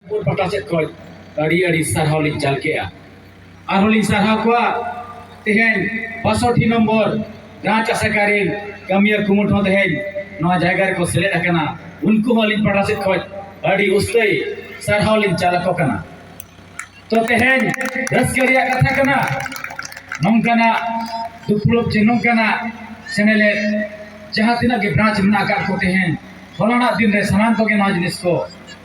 ᱯᱩᱨ ᱯᱟᱴᱟ ᱥᱮᱫ ᱠᱷᱚᱱ ᱟᱹᱰᱤ ᱟᱹᱰᱤ ᱥᱟᱨᱦᱟᱣ ᱞᱤᱧ ᱪᱟᱞ ᱠᱮᱜᱼᱟ ᱟᱨᱦᱚᱸ ᱞᱤᱧ ᱥᱟᱨᱦᱟᱣ ᱠᱚᱣᱟ ᱛᱮᱦᱮᱧ ᱵᱟᱥᱚᱴᱤ ᱱᱚᱢᱵᱚᱨ ᱜᱟᱶ ᱟᱥᱮᱠᱟ ᱨᱮᱱ ᱠᱟᱹᱢᱤᱭᱟᱹ ᱠᱩᱢᱩᱴ ᱦᱚᱸ ᱛᱮᱦᱮᱧ ᱱᱚᱣᱟ ᱡᱟᱭᱜᱟ ᱨᱮᱠᱚ ᱥᱮᱞᱮᱫ ᱟᱠᱟᱱᱟ ᱩᱱᱠᱩ ᱦᱚᱸ ᱟᱹᱞᱤᱧ ᱯᱟᱴᱟ ᱥᱮᱫ ᱠᱷᱚᱱ ᱟᱹᱰᱤ ᱩᱥᱛᱟᱹᱭ ᱥᱟᱨᱦᱟᱣ ᱞᱤᱧ ᱪᱟᱞ ᱟᱠᱚ ᱠᱟᱱᱟ ᱛᱚ ᱛᱮᱦᱮᱧ ᱨᱟᱹᱥᱠᱟᱹ ᱨᱮᱭᱟᱜ ᱠᱟᱛᱷᱟ ᱠᱟᱱᱟ ᱱᱚᱝᱠᱟᱱᱟᱜ ᱫᱩᱯᱲᱩᱵ ᱪᱮ ᱱᱚᱝᱠᱟᱱᱟᱜ ᱥᱮᱱᱮᱞᱮᱫ ᱡᱟᱦᱟᱸ ᱛᱤᱱᱟᱹᱜ ᱜᱮ ᱵᱨᱟᱸᱪ ᱢᱮᱱᱟᱜ ᱟᱠᱟᱫ ᱠᱚ ᱛᱮᱦᱮᱧ ᱦᱚᱞᱟᱱᱟᱜ ᱫᱤᱱ ᱨᱮ ᱥᱟᱱᱟᱢ ᱠᱚᱜᱮ ᱱᱚᱣᱟ ᱡᱤᱱᱤᱥ ᱠᱚ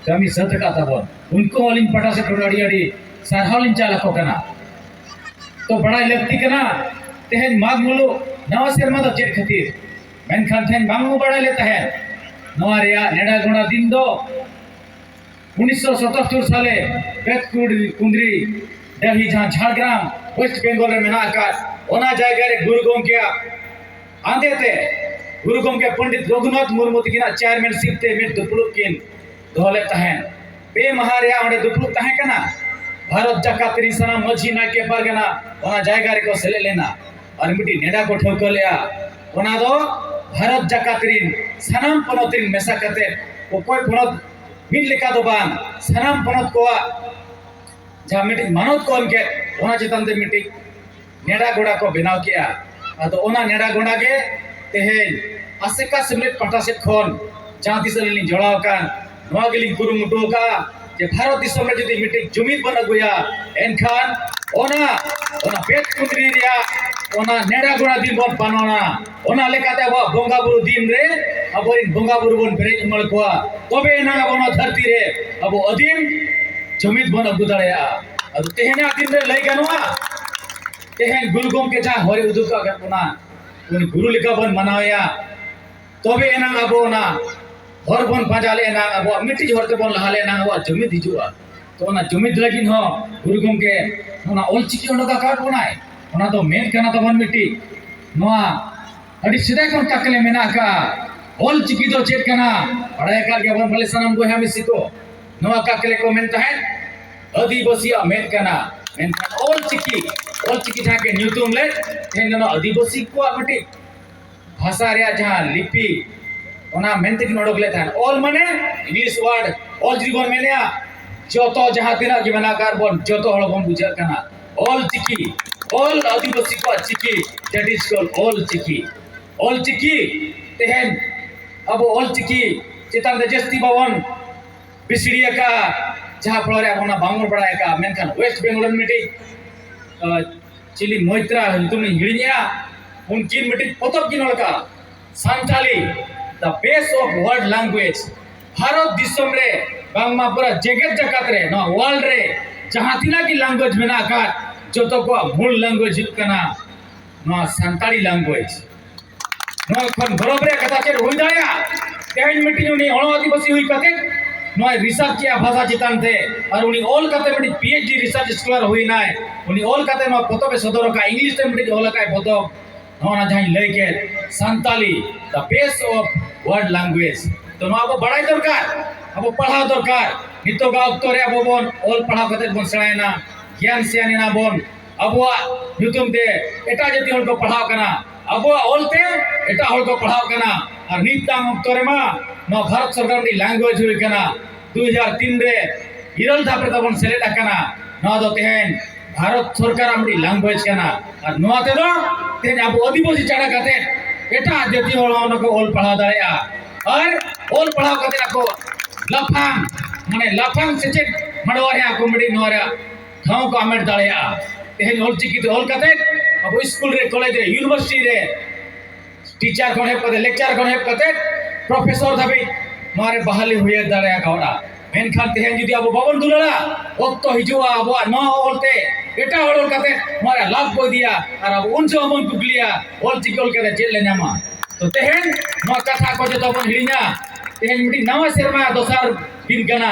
ᱠᱟᱹᱢᱤ ᱥᱟᱹᱛ ᱟᱠᱟᱫ ᱛᱟᱵᱚᱱ ᱩᱱᱠᱩ ᱦᱚᱸ ᱟᱹᱞᱤᱧ ᱯᱟᱦᱴᱟ ᱥᱮᱫ ᱠᱷᱚᱱ ᱟᱹᱰᱤ ᱟᱹᱰᱤ ᱥᱟᱨᱦᱟᱣ ᱞᱤᱧ ᱪᱟᱞ ᱟᱠᱚ ᱠᱟᱱᱟ ᱛᱚ ᱵᱟᱲᱟᱭ ᱞᱟᱹᱠᱛᱤ ᱠᱟᱱᱟ ᱛᱮᱦᱮᱧ ᱢᱟᱜᱽ ᱢᱩᱞᱩᱜ ᱱᱟᱣᱟ ᱥᱮᱨᱢᱟ ᱫᱚ ᱪᱮᱫ ᱠᱷᱟᱹᱛᱤᱨ ᱢᱮᱱᱠᱷᱟᱱ ᱛᱮᱦᱮᱧ ᱵᱟᱝ ᱵᱚ ᱵᱟᱲᱟᱭ ᱞᱮ ᱛᱟᱦᱮᱸᱫ ᱱᱚᱣᱟ ᱨᱮᱭᱟᱜ ᱱᱮᱰᱟ ᱜᱚᱸᱰᱟ ᱫᱤᱱ ᱫᱚ ᱩᱱᱤᱥᱥᱚ ᱥᱚᱛᱟᱛᱛᱳᱨ ᱥᱟᱞᱮ ᱵᱮᱛᱠᱩᱲ ᱠᱩᱸᱫᱽᱨᱤ ᱰᱟᱹᱦᱤ ᱡᱟᱦᱟᱸ ᱡᱷᱟᱲᱜᱨᱟᱢ ᱳᱭᱮᱥᱴ ᱵᱮᱝᱜᱚᱞ ᱨᱮ ᱢᱮᱱᱟᱜ ᱟᱠᱟᱫ ᱚᱱᱟ ᱡᱟᱭᱜᱟ ᱨᱮ ᱜᱩᱨᱩ ᱜᱚᱢᱠᱮᱭᱟᱜ ᱟᱸᱫᱮᱛᱮ ᱜᱩᱨᱩ ᱜᱚᱢᱠᱮ ᱯᱚᱱᱰᱤᱛ ᱨᱚᱜᱷᱩᱱᱟᱛᱷ ᱢᱩᱨᱢᱩ ᱛᱟᱹᱠᱤᱱᱟᱜ ᱪᱮᱭᱟᱨᱢᱮᱱᱥᱤᱯ ᱛᱮ ᱢᱤᱫ ᱫᱩᱯᱲᱩᱵ ᱠᱤᱱ ᱫᱚᱦᱚ ᱞᱮᱫ ᱛᱟᱦᱮᱸᱫ ᱯᱮ ᱢᱟᱦᱟ ᱨᱮᱭᱟᱜ ᱚᱸᱰᱮ ᱫᱩᱯᱲᱩᱵ ᱛᱟᱦᱮᱸ ᱠᱟᱱᱟ ᱵᱷᱟᱨᱚᱛ ᱡᱟᱠᱟᱛ ᱨᱤᱱ ᱥᱟᱱᱟᱢ ᱢᱟᱹᱡᱷᱤ ᱱᱟᱭᱠᱮ ᱯᱟᱨᱜᱟᱱᱟ ᱚᱱᱟ ᱡᱟᱭᱜᱟ ᱨᱮᱠᱚ ᱥᱮᱞᱮᱫ ᱞᱮᱱᱟ ᱟᱨ ᱢᱤᱫᱴᱤᱡ ᱱᱮᱰᱟ ᱠᱚ ᱴᱷᱟᱹᱣᱠᱟᱹ ᱞᱮᱫᱼᱟ ᱚᱱᱟ ᱫᱚ ᱵᱷᱟᱨᱚᱛ ᱡᱟᱠᱟᱛ ᱨᱤᱱ ᱥᱟᱱᱟᱢ ᱯᱚᱱᱚᱛ ᱨᱤᱱ ᱢᱮᱥᱟ ᱠᱟᱛᱮ ᱚᱠᱚᱭ ᱯᱚᱱᱚᱛ ᱢᱤᱫ ᱞᱮᱠᱟ ᱫᱚ ᱵᱟᱝ ᱥᱟᱱᱟᱢ ᱯᱚᱱᱚᱛ ᱠᱚᱣᱟᱜ ᱡᱟᱦᱟᱸ ᱢᱤᱫᱴᱤᱡ ᱢᱟᱱᱚᱛ ᱠᱚ ᱮᱢ ᱠᱮᱫ ᱚᱱᱟ ᱪᱮᱛᱟᱱ ᱛᱮ ᱢᱤᱫᱴᱤᱡ ᱱᱮᱰᱟ ᱜᱚᱰᱟ ᱠᱚ ᱵᱮᱱᱟᱣ ᱠᱮᱜᱼᱟ ᱟᱫᱚ ᱚᱱᱟ ᱱᱮᱰᱟ ᱜᱚᱰᱟ ᱜᱮ ᱛᱮᱦᱮᱧ ᱟᱥᱮᱠᱟ ᱥᱮᱢᱞᱮᱫ ᱯᱟᱦᱴᱟ ᱥᱮᱫ ᱠᱷᱚᱱ ᱡᱟᱦᱟᱸ ᱛᱤᱥ ᱟᱹᱞᱤᱧ ᱞᱤᱧ ᱡᱚᱲᱟᱣ ᱟᱠᱟᱱ ᱱᱚᱣᱟ ᱜᱮᱞᱤᱧ ᱠᱩᱨᱩᱢᱩᱴᱩ ᱟᱠᱟᱫᱼᱟ ᱡᱮ ᱵᱷᱟᱨᱚᱛ ᱫᱤᱥᱚᱢ ᱨᱮ ᱡᱩᱫᱤ ᱢᱤᱫᱴᱤᱡ ᱡᱩᱢᱤᱫ ᱵᱚᱱ ᱟᱹᱜᱩᱭᱟ ᱮᱱᱠᱷᱟᱱ ᱚᱱᱟ ᱚᱱᱟ ᱯᱮᱴ ᱠᱩᱸᱫᱽᱨᱤ ᱨᱮᱭᱟᱜ ᱚᱱᱟ ᱱᱮᱰᱟ ᱜᱚᱰᱟ ᱫᱤᱱ ᱵᱚᱱ ᱯᱟᱞᱚᱱᱟ ᱚᱱᱟ ᱞᱮᱠᱟᱛᱮ ᱟᱵᱚᱣᱟᱜ ᱵᱚᱸᱜᱟ ᱵᱩᱨᱩ ᱫᱤᱱ ᱨᱮ ᱟᱵᱚᱨᱮᱱ ᱵᱚᱸᱜᱟ ᱵᱩᱨᱩ ᱵᱚᱱ ᱵᱮᱨᱮᱫ ᱩᱢᱟᱹᱲ ᱠᱚᱣᱟ ᱛᱚᱵᱮ ᱮᱱᱟᱝ ᱟᱵᱚ ᱱᱚᱣᱟ ᱫᱷᱟᱹᱨᱛᱤ ᱨᱮ ᱟᱵᱚ ᱟᱹᱫᱤᱢ ᱡᱩᱢᱤᱫ ᱵᱚᱱ ᱟᱹᱜᱩ ᱫᱟᱲᱮᱭᱟᱜᱼᱟ ᱟᱫᱚ ᱛᱮᱦᱮᱧᱟᱜ ᱫᱤᱱ ᱨᱮ ᱞᱟᱹᱭ ᱜᱟᱱᱚᱜᱼᱟ ᱛᱮᱦᱮᱧ ᱜᱩᱨᱩ ᱜᱚᱢᱠᱮ ᱡᱟᱦᱟᱸ ᱦᱚᱭ ᱩᱫᱩᱜ ᱟᱠᱟᱫ ᱵᱚᱱᱟ ᱩᱱᱤ ᱜᱩᱨᱩ ᱞᱮᱠᱟ ᱵᱚᱱ ᱢᱟᱱᱟᱣᱮᱭᱟ ᱛᱚᱵᱮ ᱮᱱᱟᱝ ᱟᱵᱚ ᱚᱱᱟ ᱦᱚᱨ ᱵᱚᱱ ᱯᱟᱸᱡᱟ ᱞᱮᱱᱟ ᱟᱵᱚᱣᱟᱜ ᱢᱤᱫᱴᱤᱡ ᱦᱚᱨ ᱛᱮᱵᱚᱱ ᱞᱟᱦᱟ ᱞᱮᱱᱟ ᱟᱵᱚᱣᱟᱜ ᱡᱩᱢᱤᱫ ᱦᱤᱡᱩᱜᱼᱟ ᱛᱚ ᱚᱱᱟ ᱡᱩᱢᱤᱫ ᱞᱟᱹᱜᱤᱫ ᱦᱚᱸ ᱜᱩᱨᱩ ᱜᱚᱢᱠᱮ ᱚᱱᱟ ᱚᱞᱪᱤᱠᱤ ᱚᱰᱚᱠ ᱟᱠᱟᱫ ᱵᱚᱱᱟᱭ ᱚᱱᱟ ᱫᱚ ᱢᱮᱫ ᱠᱟᱱᱟ ᱛᱟᱵᱚᱱ ᱢᱤᱫᱴᱤᱡ ᱱᱚᱣᱟ ᱟᱹᱰᱤ ᱥᱮᱫᱟᱭ ᱠᱷᱚᱱ ᱛᱟᱠᱞᱮ ᱢᱮᱱᱟᱜ ᱟᱠᱟᱫᱼᱟ ᱚᱞᱪᱤᱠᱤ ᱫᱚ ᱪᱮᱫ ᱠᱟᱱᱟ ᱵᱟᱲᱟᱭ ᱟᱠᱟᱫ ᱜᱮᱭᱟᱵᱚᱱ ᱯᱟᱞᱮ ᱥᱟᱱᱟᱢ ᱵᱚᱭᱦᱟ ᱢᱤᱥᱤ ᱠᱚ ᱱᱚᱣᱟ ᱛᱟᱠᱞᱮ ᱠᱚ ᱢᱮᱱ ᱛᱟᱦᱮᱸᱫ ᱟᱹᱫᱤᱵᱟᱹᱥᱤᱭᱟᱜ ᱢᱮᱫ ᱠᱟᱱᱟ ᱢᱮᱱᱠᱷᱟᱱ ᱚᱞᱪᱤᱠᱤ ᱚᱞᱪᱤᱠᱤ ᱡᱟᱦᱟᱸ ᱜᱮ ᱧᱩᱛᱩᱢ ᱞᱮᱫ ᱛᱮᱦᱮᱧ ᱫᱚ ᱱᱚᱣᱟ ᱟᱹᱫᱤᱵᱟᱹᱥᱤ ᱠᱚᱣᱟᱜ ᱢᱤᱫᱴᱤᱡ ᱵᱷᱟᱥᱟ ᱨᱮᱭᱟᱜ ᱡᱟᱦᱟᱸ ᱞᱤᱯᱤ ᱚᱱᱟ ᱢᱮᱱᱛᱮ ᱠᱤᱱ ᱚᱰᱚᱠ ᱞᱮᱫ ᱛᱟᱦᱮᱸᱫ ᱚᱞ ᱢᱟᱱᱮ ᱤᱝᱞᱤᱥ ᱣᱟᱨᱰ ᱚᱞ ᱡᱩᱫᱤ ᱵᱚᱱ ᱢᱮᱱᱮᱫᱼᱟ ᱡᱚᱛᱚ ᱡᱟᱦᱟᱸ ᱛᱤᱱᱟᱹᱜ ᱜᱮ ᱢᱮᱱᱟᱜ ᱟᱠᱟᱫ ᱵᱚᱱ ᱡᱚᱛᱚ ᱦᱚᱲ ᱵᱚᱱ ᱵᱩᱡᱷᱟᱹᱜ ᱠᱟᱱᱟ ᱚᱞ ᱪᱤᱠᱤ ᱚᱞ ᱟᱹᱫᱤᱵᱟᱹᱥᱤ ᱠᱚᱣᱟᱜ ᱪᱤᱠᱤ ᱫᱮᱴ ᱤᱡ ᱠᱚᱞ ᱚᱞ ᱪᱤᱠᱤ ᱚᱞ ᱪᱤᱠᱤ ᱛᱮᱦᱮᱧ ᱟᱵᱚ ᱚᱞ ᱪᱤᱠᱤ ᱪᱮᱛᱟᱱ ᱨᱮ ᱡᱟᱹᱥᱛᱤ ᱵᱟᱵᱚᱱ ᱯᱤᱥᱲᱤ ᱟᱠᱟᱫᱼᱟ ᱡᱟᱦᱟᱸ ᱯᱷᱚᱞᱚᱨᱮ ᱟᱵᱚ ᱚᱱᱟ ᱵᱟᱝᱵᱚᱱ ᱵᱟᱲᱟᱭ ᱟᱠᱟᱫᱼᱟ ᱢᱮᱱᱠᱷᱟᱱ ᱳᱭᱮᱥᱴ ᱵᱮᱝᱜᱚᱞ ᱨᱮᱱ ᱢᱤᱫᱴᱤᱡ ᱪᱤᱞᱤ ᱢᱚᱭᱛᱨᱟ ᱧᱩᱛᱩᱢ ᱤᱧ ᱦᱤᱲᱤᱧᱮᱜᱼᱟ ᱩᱱᱠᱤᱱ ᱢᱤᱫᱴᱤᱡ ᱯᱚᱛᱚᱵ ᱠᱤᱱ ᱚᱞ ᱟᱠᱟᱫᱼᱟ Santali the best of world language Bharat ᱫᱤᱥᱚᱢ ᱨᱮ ᱵᱟᱝᱢᱟ ᱯᱩᱨᱟᱹ ᱡᱮᱜᱮᱛ ᱡᱟᱠᱟᱛ ᱨᱮ ᱱᱚᱣᱟ ᱣᱟᱨᱞᱰ ᱨᱮ ᱡᱟᱦᱟᱸ ᱛᱤᱱᱟᱹᱜ ᱜᱮ ᱞᱟᱝᱜᱩᱭᱮᱡᱽ ᱢᱮᱱᱟᱜ ᱟᱠᱟᱫ ᱡᱚᱛᱚ ᱠᱚᱣᱟᱜ ᱢᱩᱞ ᱞᱟᱝᱜᱩᱭᱮᱡᱽ ᱦᱩᱭᱩᱜ ᱠᱟᱱᱟ ᱱᱚᱣᱟ ᱥᱟᱱᱛᱟᱲᱤ ᱞᱟᱝᱜᱩᱭᱮᱡᱽ ᱠᱷᱚᱱ ᱜᱚᱨᱚᱵᱽ ᱨᱮᱭᱟᱜ ᱠᱟᱛᱷᱟ ᱪᱮᱫ ᱦᱩᱭ ᱫᱟᱲᱮᱭᱟᱜᱼᱟ ᱛᱮᱦᱮᱧ ᱢᱤᱫᱴᱤᱡ ᱩᱱᱤ ᱦᱚᱲ ᱟᱹᱫᱤᱵᱟᱹᱥᱤ ᱦᱩᱭ ᱠᱟᱛᱮ ᱱᱚᱣᱟ ᱨᱤᱥᱟᱨᱪ ᱠᱮᱜᱼᱟ ᱵᱷᱟᱥᱟ ᱪᱮᱛᱟᱱ ᱛᱮ ᱟᱨ ᱩᱱᱤ ᱚᱞ ᱠᱟᱛᱮ ᱢᱤᱫᱴᱤᱡ P H D research scholar ᱦᱩᱭᱱᱟᱭ ᱩᱱᱤ ᱚᱞ ᱠᱟᱛᱮ ᱱᱚᱣᱟ ᱯᱚᱛᱚᱵ ᱮ ᱥᱚᱫᱚᱨ ᱟᱠᱟᱫ ᱤᱝᱞᱤᱥ ᱛᱮ ᱢᱤᱫᱴᱤᱡ ᱚᱞ ᱟᱠᱟᱫ ᱯᱚᱛᱚᱵ ᱱᱚᱣᱟ ᱡᱟᱦᱟᱸᱧ ᱞᱟᱹᱭ ᱠᱮᱫ Santali the best of world language ᱛᱚ ᱱᱚᱣᱟ ᱟᱵᱚ ᱵᱟᱲᱟᱭ ᱫᱚᱨᱠᱟᱨ ᱟᱵᱚ ᱯᱟᱲᱦᱟᱣ ᱫᱚᱨᱠᱟᱨ ᱱᱤᱛᱚᱜᱟᱜ ᱚᱠᱛᱚ ᱨᱮ ᱟᱵᱚ ᱵᱚᱱ ᱚᱞ ᱯᱟᱲᱦᱟᱣ ᱠᱟᱛᱮ ᱵᱚᱱ ᱥᱮᱬᱟᱭᱮᱱᱟ ᱜᱮᱭᱟᱱ ᱥᱮᱭᱟᱱ ᱮᱱᱟ ᱵᱚᱱ ᱟᱵᱚᱣᱟᱜ ᱧᱩᱛᱩᱢ ᱛᱮ ᱮᱴᱟᱜ ᱡᱟᱹᱛᱤ ᱦᱚᱲ ᱠᱚ ᱯᱟᱲᱦᱟᱣ ᱠᱟᱱᱟ ᱟᱵᱚᱣᱟᱜ ᱚᱞ ᱛᱮ ᱮᱴᱟᱜ ᱦᱚᱲ ᱠᱚ ᱯᱟᱲᱦᱟᱣ ᱠᱟᱱᱟ ᱟᱨ ᱱᱤᱛᱟᱝ ᱚᱠᱛᱚ ᱨᱮᱢᱟ ᱱᱚᱣᱟ ᱵᱷᱟᱨᱚᱛ ᱥᱚᱨᱠᱟᱨ ᱨᱮᱱᱤᱡ ᱞᱮᱝᱜᱩᱭᱮᱡᱽ ᱦᱩᱭ ᱠᱟᱱᱟ ᱫᱩ ᱦᱟᱡᱟᱨ ᱛᱤᱱ ᱨᱮ ᱤᱨᱟᱹᱞ ᱫᱷᱟᱯ ᱨᱮ ᱛᱟᱵᱚᱱ ᱥᱮᱞᱮᱫ ᱟᱠᱟᱱᱟ ᱱᱚᱣᱟ ᱫᱚ ᱛᱮᱦᱮᱧ ᱵᱷᱟᱨᱚᱛ ᱥᱚᱨᱠᱟᱨᱟᱜ ᱢᱤᱫᱴᱤᱡ ᱞᱮᱝᱜᱩᱭᱮᱡᱽ ᱠᱟᱱᱟ ᱟᱨ ᱱᱚᱣᱟ ᱛᱮᱫᱚ ᱛᱮᱦᱮᱧ ᱟᱵᱚ ᱟᱹᱫᱤᱵᱟᱹᱥᱤ ᱪᱷᱟᱰᱟ ᱠᱟᱛᱮ ᱮᱴᱟᱜ ᱡᱟᱹᱛᱤ ᱦᱚᱲ ᱦᱚᱸ ᱱᱩᱠᱩ ᱚᱞ ᱯᱟᱲᱦᱟᱣ ᱫᱟᱲᱮᱭᱟᱜᱼᱟ ᱟᱨ ᱚᱞ ᱯᱟᱲᱦᱟᱣ ᱠᱟᱛᱮ ᱟᱠᱚ ᱞᱟᱯᱷᱟᱝ ᱢᱟᱱᱮ ᱞᱟᱯᱷᱟᱝ ᱥᱮᱪᱮᱫ ᱢᱟᱰᱣᱟ ᱨᱮ ᱟᱠᱚ ᱢᱤᱫᱴᱤᱡ ᱱᱚᱣᱟ ᱨᱮᱭᱟᱜ ᱴᱷᱟᱶ ᱠᱚ ᱦᱟᱢᱮᱴ ᱫᱟᱲᱮᱭᱟᱜᱼᱟ ᱛᱮᱦᱮᱧ ᱚᱞᱪᱤᱠᱤ ᱛᱮ ᱚᱞ ᱠᱟᱛᱮ ᱟᱵᱚ ᱥᱠᱩᱞ ᱨᱮ ᱠᱚᱞᱮᱡᱽ ᱨᱮ ᱤᱭᱩᱱᱤᱵᱷᱟᱨᱥᱤᱴᱤ ᱨᱮ ᱴᱤᱪᱟᱨ ᱠᱷᱚᱱ ᱮᱦᱚᱵ ᱠᱟᱛᱮ ᱞᱮᱠᱪᱟᱨ ᱠᱷᱚᱱ ᱮᱦᱚᱵ ᱠᱟᱛᱮ ᱯᱨᱚᱯᱷᱮᱥᱚᱨ ᱫᱷᱟᱹᱵᱤᱡ ᱱᱚᱣᱟ ᱨᱮ ᱵᱟᱦᱟᱞᱤ ᱦᱩᱭ ᱫᱟᱲᱮ ᱟᱠᱟᱣᱱᱟ ᱢᱮᱱᱠᱷᱟᱱ ᱛᱮᱦᱮᱧ ᱡᱩᱫᱤ ᱟᱵᱚ ᱵᱟᱵᱚᱱ ᱫᱩᱞᱟᱹᱲᱟ ᱚᱠᱛᱚ ᱦᱤᱡᱩᱜᱼᱟ ᱟᱵᱚᱣᱟᱜ ᱱᱚᱣᱟ ᱚᱞᱛᱮ ᱮᱴᱟᱜ ᱦᱚᱲ ᱚᱞ ᱠᱟᱛᱮ ᱱᱚᱣᱟ ᱨᱮ ᱞᱟᱵᱷ ᱠᱚ ᱤᱫᱤᱭᱟ ᱟᱨ ᱟᱵᱚ ᱩᱱ ᱡᱚᱦᱚᱜ ᱵᱚᱱ ᱠᱩᱠᱞᱤᱭᱟ ᱚᱞᱪᱤᱠᱤ ᱚᱞ ᱠᱟᱛᱮ ᱪᱮᱫ ᱞᱮ ᱧᱟᱢᱟ ᱛᱚ ᱛᱮᱦᱮᱧ ᱱᱚᱣᱟ ᱠᱟᱛᱷᱟ ᱠᱚ ᱡᱚᱛᱚ ᱵᱚᱱ ᱦᱤᱲᱤᱧᱟ ᱛᱮᱦᱮᱧ ᱢᱤᱫᱴᱤᱡ ᱱᱟᱣᱟ ᱥᱮᱨᱢᱟ ᱫᱚᱥᱟᱨ ᱫᱤᱱ ᱠᱟᱱᱟ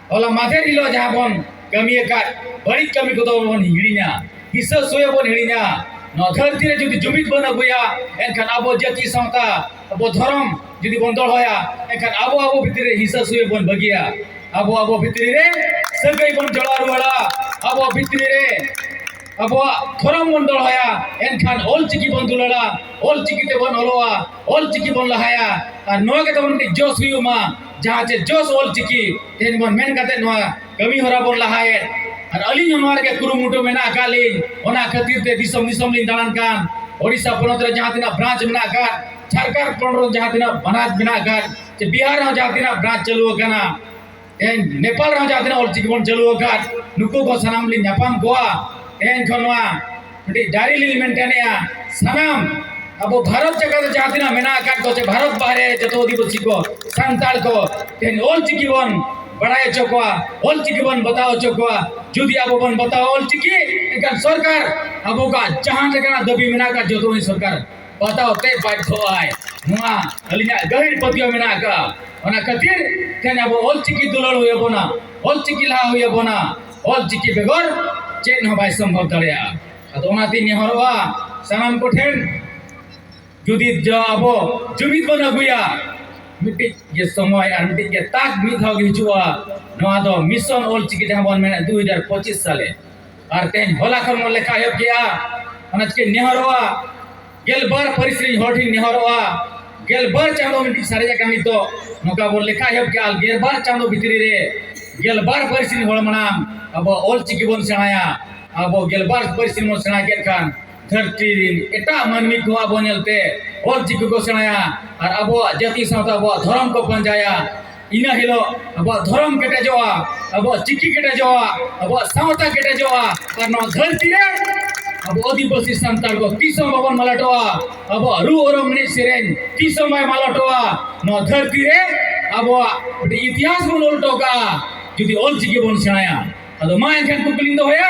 ᱦᱚᱞᱟ ᱢᱟᱫᱷᱮᱨ ᱦᱤᱞᱳᱜ ᱡᱟᱦᱟᱸ ᱵᱚᱱ ᱠᱟᱹᱢᱤ ᱟᱠᱟᱫ ᱵᱟᱹᱲᱤᱡ ᱠᱟᱹᱢᱤ ᱠᱚᱫᱚ ᱵᱚᱱ ᱦᱤᱲᱤᱧᱟ ᱦᱤᱥᱟᱹ ᱥᱩᱭᱟᱹ ᱵᱚᱱ ᱦᱤᱲᱤᱧᱟ ᱱᱚᱣᱟ ᱫᱷᱟᱹᱨᱛᱤ ᱨᱮ ᱡᱩᱫᱤ ᱡᱩᱢᱤᱫ ᱵᱚᱱ ᱟᱹᱜᱩᱭᱟ ᱮᱱᱠᱷᱟᱱ ᱟᱵᱚ ᱡᱟᱹᱛᱤ ᱥᱟᱶᱛᱟ ᱟᱵᱚ ᱫᱷᱚᱨᱚᱢ ᱡᱩᱫᱤ ᱵᱚᱱ ᱫᱚᱦᱚᱭᱟ ᱮᱱᱠᱷᱟᱱ ᱟᱵᱚ ᱟᱵᱚ ᱵᱷᱤᱛᱨᱤ ᱨᱮ ᱦᱤᱥᱟᱹ ᱥᱩᱭᱟᱹ ᱵᱚᱱ ᱵᱟᱹᱜᱤᱭᱟ ᱟᱵᱚ ᱟᱵᱚ ᱵᱷᱤᱛᱨᱤ ᱨᱮ ᱥᱟᱹᱜᱟᱹᱭ ᱵᱚᱱ ᱡᱚᱲᱟᱣ ᱨᱩᱣᱟᱹᱲᱟ ᱟᱵᱚ ᱵᱷᱤᱛᱨᱤ ᱨᱮ ᱟᱵᱚᱣᱟᱜ ᱫᱷᱚᱨᱚᱢ ᱵᱚᱱ ᱫᱚᱦᱚᱭᱟ ᱮᱱᱠᱷᱟᱱ ᱚᱞ ᱪᱤᱠᱤ ᱵᱚᱱ ᱫᱩᱞᱟᱹᱲᱟ ᱚᱞ ᱪᱤᱠᱤ ᱛᱮᱵᱚᱱ ᱚᱞᱚᱜᱼᱟ ᱚᱞ ᱪᱤᱠᱤ ᱵᱚᱱ ᱞᱟᱦᱟᱭᱟ ᱟᱨ ᱱᱚᱣᱟ ᱜᱮ ᱛᱟᱵᱚᱱ ᱢᱤᱫᱴᱤᱡ ᱡᱚᱥ ᱦᱩᱭᱩᱜ ᱢᱟ ᱡᱟᱦᱟᱸ ᱪᱮ ᱡᱚᱥ ᱚᱞ ᱪᱤᱠᱤ ᱛᱮᱦᱮᱧ ᱵᱚᱱ ᱢᱮᱱ ᱠᱟᱛᱮ ᱱᱚᱣᱟ ᱠᱟᱹᱢᱤ ᱦᱚᱨᱟ ᱵᱚᱱ ᱞᱟᱦᱟᱭᱮᱫ ᱟᱨ ᱟᱹᱞᱤᱧ ᱦᱚᱸ ᱱᱚᱣᱟ ᱨᱮᱜᱮ ᱠᱩᱨᱩᱢᱩᱴᱩ ᱢᱮᱱᱟᱜ ᱟᱠᱟᱫ ᱞᱤᱧ ᱚᱱᱟ ᱠᱷᱟᱹᱛᱤᱨ ᱛᱮ ᱫᱤᱥᱚᱢ ᱫᱤᱥᱚᱢ ᱞᱤᱧ ᱫᱟᱬᱟᱱ ᱠᱟᱱ ᱳᱰᱤᱥᱟ ᱯᱚᱱᱚᱛ ᱨᱮ ᱡᱟᱦᱟᱸ ᱛᱤᱱᱟᱹᱜ ᱵᱨᱟᱸᱪ ᱢᱮᱱᱟᱜ ᱟᱠᱟᱫ ᱡᱷᱟᱲᱠᱷᱚᱸᱰ ᱯᱚᱱᱚᱛ ᱨᱮ ᱡᱟᱦᱟᱸ ᱛᱤᱱᱟᱹᱜ ᱵᱨᱟᱸᱪ ᱢᱮᱱᱟᱜ ᱟᱠᱟᱫ ᱪᱮ ᱵᱤᱦᱟᱨ ᱨᱮᱦᱚᱸ ᱡᱟᱦᱟᱸ ᱛᱤᱱᱟᱹᱜ ᱵᱨᱟᱸᱪ ᱪᱟᱹᱞᱩ ᱟᱠᱟᱱᱟ ᱛᱮᱦᱮᱧ ᱱᱮᱯᱟᱞ ᱨᱮᱦᱚᱸ ᱡᱟᱦᱟᱸ ᱛᱤᱱᱟᱹᱜ ᱚᱞ ᱪᱤᱠᱤ ᱵᱚᱱ ᱪᱟᱹᱞᱩ ᱟᱠᱟᱫ ᱱᱩᱠᱩ ᱠᱚ ᱥᱟᱱᱟᱢ ᱞᱤᱧ ᱧᱟᱯᱟᱢ ᱠᱚᱣᱟ ᱛᱮᱦᱮᱧ ᱠᱷᱚᱱ ᱱᱚᱣᱟ ᱟᱹᱰᱤ ᱫᱟᱨᱮ ᱞᱤᱧ ᱢᱮᱱ ᱠᱟᱱᱮᱭᱟ ᱥᱟᱱᱟᱢ ᱟᱵᱚ ᱵᱷᱟᱨᱚᱛ ᱡᱟᱭᱜᱟ ᱨᱮ ᱡᱟᱦᱟᱸ ᱛᱤᱱᱟᱹᱜ ᱢᱮᱱᱟᱜ ᱟᱠᱟᱫ ᱠᱚ ᱥᱮ ᱵᱷᱟᱨᱚᱛ ᱵᱟᱦᱨᱮ ᱡᱚᱛᱚ ᱟᱹᱫᱤᱵᱟᱹᱥᱤ ᱠᱚ ᱥᱟᱱᱛᱟᱲ ᱠᱚ ᱛᱮᱦᱮᱧ ᱚᱞ ᱪᱤᱠᱤ ᱵᱚᱱ ᱵᱟᱲᱟᱭ ᱦᱚᱪᱚ ᱠᱚᱣᱟ ᱚᱞ ᱪᱤᱠᱤ ᱵᱚᱱ ᱵᱟᱛᱟᱣ ᱦᱚᱪᱚ ᱠᱚᱣᱟ ᱡᱩᱫᱤ ᱟᱵᱚ ᱵᱚᱱ ᱵᱟᱛᱟᱣᱟ ᱚᱞ ᱪᱤᱠᱤ ᱮᱱᱠᱷᱟᱱ ᱥᱚᱨᱠᱟᱨ ᱟᱵᱚ ᱠᱚᱣᱟᱜ ᱡᱟᱦᱟᱸ ᱞᱮᱠᱟᱱᱟᱜ ᱫᱟᱹᱵᱤ ᱢᱮᱱᱟᱜ ᱟᱠᱟᱫ ᱡᱚᱛᱚ ᱩᱱᱤ ᱥᱚᱨᱠᱟᱨ ᱵᱟᱛᱟᱣ ᱛᱮ ᱵᱟᱫᱽᱫᱷᱚᱜᱼᱟᱭ ᱱᱚᱣᱟ ᱟᱹᱞᱤᱧᱟᱜ ᱜᱟᱹᱦᱤᱨ ᱯᱟᱹᱛᱭᱟᱹᱣ ᱢᱮᱱᱟᱜ ᱟᱠᱟᱫᱼᱟ ᱚᱱᱟ ᱠᱷᱟᱹᱛᱤᱨ ᱛᱮᱦᱮᱧ ᱟᱵᱚ ᱚᱞ ᱪᱤᱠᱤ ᱫᱩᱞᱟᱹᱲ ᱦᱩᱭ ᱟᱵᱚᱱᱟ ᱚᱞ ᱪᱤᱠᱤ ᱞᱟᱦᱟ ᱦᱩᱭ ᱟᱵᱚᱱᱟ ᱚᱞ ᱪᱤᱠᱤ ᱵᱮᱜᱚᱨ ᱪᱮᱫ ᱦᱚᱸ ᱵᱟᱭ ᱥᱚᱢᱵᱷᱚᱵ ᱫᱟᱲᱮᱭᱟᱜᱼᱟ ᱟᱫᱚ ᱚᱱᱟᱛᱤᱧ ᱱᱮᱦᱚᱨᱚᱜᱼᱟ ᱥᱟᱱᱟᱢ ᱠᱚᱴᱷᱮᱱ ᱡᱩᱫᱤ ᱟᱵᱚ ᱡᱩᱢᱤᱫ ᱵᱚᱱ ᱟᱹᱜᱩᱭᱟ ᱢᱤᱫᱴᱤᱡ ᱜᱮ ᱥᱚᱢᱚᱭ ᱟᱨ ᱢᱤᱫᱴᱤᱡ ᱜᱮ ᱛᱟᱠ ᱢᱤᱫ ᱫᱷᱟᱣ ᱜᱮ ᱦᱤᱡᱩᱜᱼᱟ ᱱᱚᱣᱟ ᱫᱚ ᱢᱤᱥᱚᱱ ᱚᱞ ᱪᱤᱠᱤ ᱡᱟᱦᱟᱸ ᱵᱚᱱ ᱢᱮᱱᱟ ᱫᱩ ᱦᱟᱡᱟᱨ ᱯᱚᱸᱪᱤᱥ ᱥᱟᱞᱮ ᱟᱨ ᱛᱮᱦᱮᱧ ᱦᱚᱞᱟ ᱠᱷᱚᱱ ᱵᱚᱱ ᱞᱮᱠᱷᱟ ᱮᱦᱚᱵ ᱠᱮᱜᱼᱟ ᱚᱱᱟ ᱪᱤᱠᱟᱹᱧ ᱱᱮᱦᱚᱨᱚᱜᱼᱟ ᱜᱮᱞᱵᱟᱨ ᱯᱟᱹᱨᱤᱥ ᱨᱤᱱ ᱦᱚᱲ ᱴᱷᱮᱱ ᱱᱮᱦᱚᱨᱚᱜᱼᱟ ᱜᱮᱞᱵᱟᱨ ᱪᱟᱸᱫᱚ ᱢᱤᱫᱴᱤᱡ ᱥᱟᱨᱮᱡ ᱟᱠᱟᱱ ᱱᱤᱛᱚᱜ ᱱᱚᱝᱠᱟ ᱵᱚᱱ ᱞᱮᱠᱷᱟ ᱮᱦᱚᱵ ᱠᱮᱜᱼᱟ ᱜᱮᱞᱵᱟᱨ ᱪᱟᱸᱫᱚ ᱵᱷᱤᱛᱨᱤ ᱨᱮ ᱜᱮᱞᱵᱟᱨ ᱯᱟᱹᱨᱤᱥ ᱨᱤᱱ ᱦᱚᱲ ᱢᱟᱲᱟᱝ ᱟᱵᱚ ᱚᱞ ᱪᱤᱠᱤ ᱵᱚᱱ ᱥᱮᱬᱟᱭᱟ ᱟᱵᱚ ᱜᱮᱞᱵᱟᱨ ᱯᱟᱹᱨᱤᱥ ᱨᱤᱱ ᱵᱚᱱ ᱥᱮᱬᱟ ᱠᱮᱫ ᱠᱷᱟᱱ ᱫᱷᱟᱹᱨᱛᱤ ᱨᱤᱱ ᱮᱴᱟᱜ ᱢᱟᱹᱱᱢᱤ ᱠᱚ ᱟᱵᱚ ᱧᱮᱞᱛᱮ ᱚᱞ ᱪᱤᱠᱤ ᱠᱚ ᱥᱮᱬᱟᱭᱟ ᱟᱨ ᱟᱵᱚᱣᱟᱜ ᱡᱟᱹᱛᱤ ᱥᱟᱶᱛᱟ ᱟᱵᱚᱣᱟᱜ ᱫᱷᱚᱨᱚᱢ ᱠᱚ ᱯᱟᱸᱡᱟᱭᱟ ᱤᱱᱟᱹ ᱦᱤᱞᱳᱜ ᱟᱵᱚᱣᱟᱜ ᱫᱷᱚᱨᱚᱢ ᱠᱮᱴᱮᱡᱚᱜᱼᱟ ᱟᱵᱚᱣᱟᱜ ᱪᱤᱠᱤ ᱠᱮᱴᱮᱡᱚᱜᱼᱟ ᱟᱵᱚᱣᱟᱜ ᱥᱟᱶᱛᱟ ᱠᱮᱴᱮᱡᱚᱜᱼᱟ ᱟᱨ ᱱᱚᱣᱟ ᱫᱷᱟᱹᱨᱛᱤ ᱨᱮ ᱟᱵᱚ ᱟᱹᱫᱤᱵᱟᱹᱥᱤ ᱥᱟᱱᱛᱟᱲ ᱠᱚ ᱛᱤᱥ ᱦᱚᱸ ᱵᱟᱵᱚᱱ ᱢᱟᱞᱚᱴᱚᱜᱼᱟ ᱟᱵᱚᱣᱟᱜ ᱨᱩ ᱚᱨᱚᱝ ᱮᱱᱮᱡ ᱥᱮᱨᱮᱧ ᱛᱤᱥ ᱦᱚᱸ ᱵᱟᱭ ᱢᱟᱞᱚᱴᱚᱜᱼᱟ ᱱᱚᱣᱟ ᱫᱷᱟᱹᱨᱛᱤ ᱨᱮ ᱟᱵᱚᱣᱟᱜ ᱢᱤᱫᱴᱤᱡ ᱤᱛᱤᱦᱟᱥ ᱵᱚᱱ ᱚᱞ ᱦᱚᱴᱚ ᱠᱟᱜᱼᱟ ᱡᱩᱫᱤ ᱚᱞ ᱪᱤᱠᱤ ᱵᱚᱱ ᱥᱮᱬᱟᱭᱟ ᱟᱫᱚ ᱢᱟ ᱮᱱᱠᱷᱟᱱ ᱠᱩᱠᱞᱤᱧ ᱫᱚᱦᱚᱭᱟ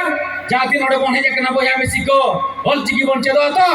ᱡᱟᱦᱟᱸ ᱛᱤᱱ ᱱᱚᱰᱮ ᱵᱚᱱ ᱦᱮᱡ ᱟᱠᱟᱱᱟ ᱵᱚᱭᱦᱟ ᱢᱤᱥᱤ ᱠᱚ ᱚᱞ ᱪᱤᱠᱤ ᱵᱚᱱ ᱪᱮᱫᱚᱜᱼᱟ ᱛᱚ